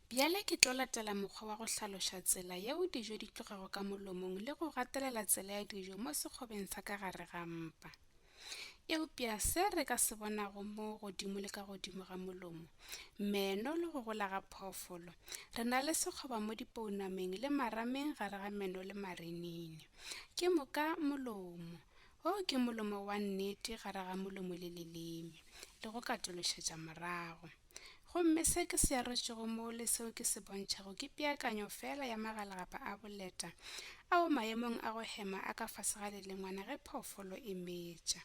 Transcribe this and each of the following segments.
Bjale ke tlo latela mokgwa wa go hlaloša tsela yeo dijo di tlogago ka molomong le go gatelela tsela ya dijo mo sekgobeng sa ka gare ga mpa. Eupša se re ka se bonago mo godimo le ka godimo ga molomo, meno le go gola ga phoofolo, re na le sekgoba mo dipounameng le marameng gare ga meno le marinini. Ke moka molomo, O ke molomo wa nnete gare ga molomo le leleme, le go katološetša morago. Gomme se ke se arotšego moo le seo ke se bontšhago ke peakanyo feela ya magalagapa a boleta ao maemong a go hema a ka fase ga lelengwana ge phoofolo e metša.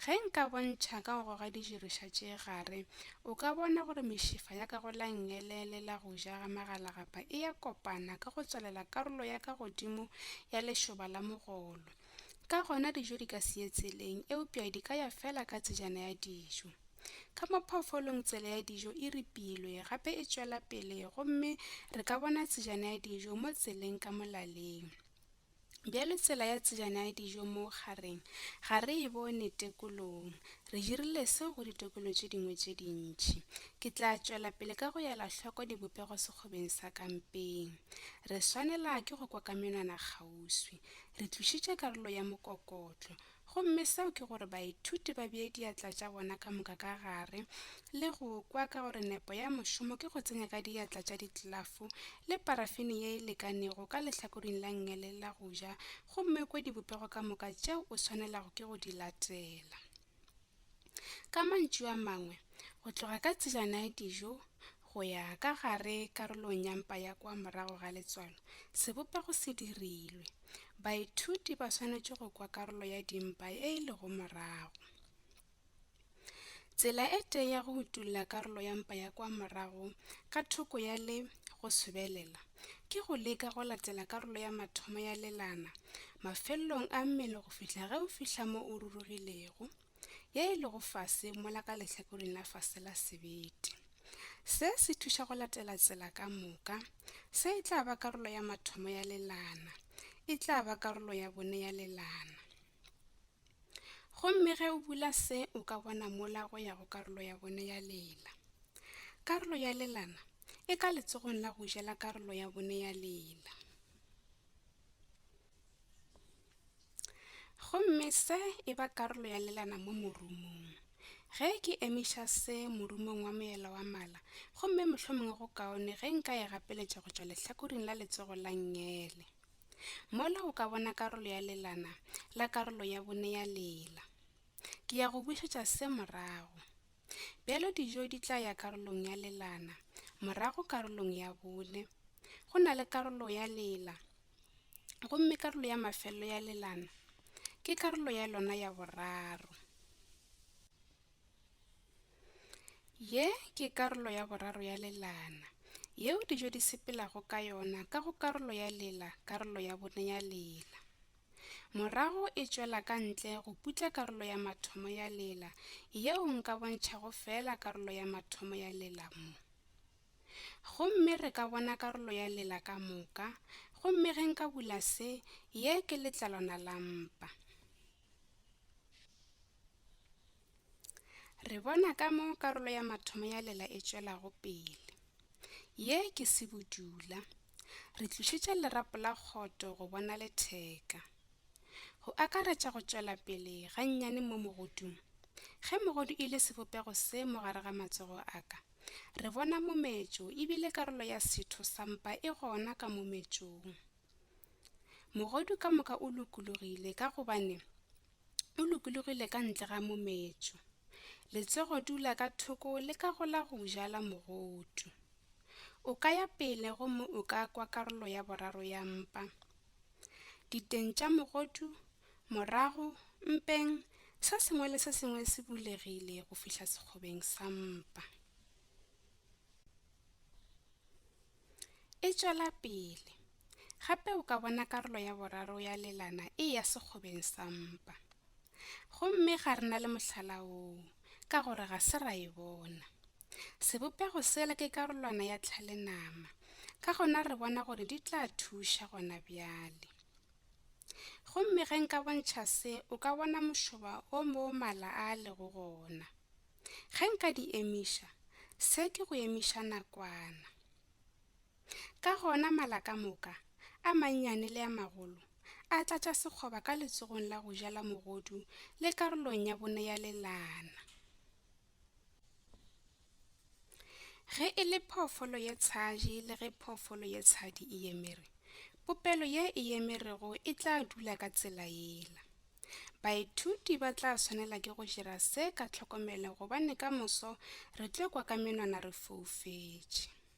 Ge nka bontšha ka go goga dijiriša tše gare, o ka bona gore mešifa ya ka go la ngele le la go ja ga magalagapa e ya kopana ka go tswalela karolo ya ka godimo ya lešoba la mogolo, Ka gona dijo di ka se ye tseleng, eupša di ka ya feela ka tsejana ya dijo. Ka mo phoofolong tsela ya dijo e ripilwe gape e tšwela pele gomme re ka bona tsejana ya dijo mo tseleng ka molaleng. Bjale tsela ya tsejana ya dijo mo gareng ga re e bone tekolong. Re dirile seo go ditokelo tše dingwe tše dintši. Ke tla tšwela pele ka go ela hloko dibopego sekgobeng sa ka mpeng. Re swanela ke go kwa ka menwana kgauswi. Le tlošitše karolo ya mokokotlo. Gomme seo ke gore baithuti ba bee diatla tša bona ka moka ka gare, le go kwa ka gore nepo ya mošomo ke go tsenya ka diatla tša ditlafo le parafini ye e lekanego ka lehlakoring la ngele la go ja, gomme o kwe dibopego ka moka tšeo o swanelago ke go di latela. Ka mantšu a mangwe, go tloga ka tselana ya dijo go ya ka gare karolong ya mpa ya kwa morago ga letswalo, sebopego se dirilwe. Baithuti ba swanetše go kwa karolo ya dimpa e e lego morago. Tsela e tee ya go utolla karolo ya mpa ya kwa morago ka thoko ya le go sobelela, ke go leka go latela karolo ya mathomo ya lelana mafelelong a mmele go fihla ge o fihla mo o rurugilego ye e lego fase mola ka lehlakoreng la fase la sebete se se thuša go latela tsela ka moka se e tla ba karolo ya mathomo ya lelana e tla ba karolo ya bone ya lelana Gomme ge o bula se, o ka bona mola go ya go karolo ya bone ya lela. Karolo ya lelana e ka letsogong la go jela karolo ya bone ya lela. Gomme se e ba karolo ya lelana mo morumong. Ge ke emiša se morumong wa moela wa mala, gomme mohlomongwe go kaone ge nka e gapeletša go tšwa lehlakoring la letsogo la ngele. Mola o ka bona karolo ya lelana la karolo ya bone ya lela. Ke ya go bušetša se morago. Bjalo dijo di tla ya karolong ya lelana, morago karolong ya bone. Go na le karolo ya lela, gomme karolo ya mafelelo ya lelana ke karolo ya lona ya boraro. Ye ke karolo ya boraro ya lelana, yeo dijo di sepelago ka yona ka go karolo ya lela, karolo ya bone ya lela. Morago e tšwela ka ntle go putla karolo ya mathomo ya lela, yeo nka bontšhago feela karolo ya mathomo ya lela mo. Gomme re ka bona karolo ya lela ka moka, gomme ge nka bula se, ye ke letlalwana la mpa. Re bona ka mo karolo ya mathomo ya lela e tšwelago pele. Ye ke sebudula. Re tlišitše lerapo la kgoto go bona letheka. Go akaretša go tšwela pele ga nnyane mo mogodung. Ge mogodu e le sebopego se mo gare ga matsogo a ka, re bona mometšo e bile karolo ya setho sa mpa e gona ka mometšong. Mogodu ka moka o lokologile ka gobane o lokologile ka ntle ga mometšo. Letsogo dula ka thoko le ka gola go jala mogodu. O ka ya pele gomme o ka kwa karolo ya boraro ya mpa. Diteng tša mogodu morago mpeng se sengwe le se sengwe se bulegile go fihla sekgobeng sa mpa. E tšwela pele, Gape o ka bona karolo ya boraro ya lelana e eya sekgobeng sa mpa. Gomme ga re na le mohlala woo, ka gore ga se ra e bona. Sebopego sela ke karolwana ya tlhalenama, ka gona re bona gore di tla thuša gona bjale. Gomme ge nka bontšha se, o ka bona mošoba wo moo mala a lego gona. Ge nka di emiša, se ke go emiša nakwana. Ka gona mala ka moka, a mannyane le a magolo, a tlatša sekgoba ka letsogong la go ja la mogodu le karolong ya bone ya lelana. Ge e le phoofolo ye tshaji le ge phoofolo ye tshadi e emere, popelo ye e emerego e tla dula ka tsela yela. Baithuti ba tla swanela ke go dira se ka tlhokomelo gobane ka moso re tlo kwa ka menwana re foufetše.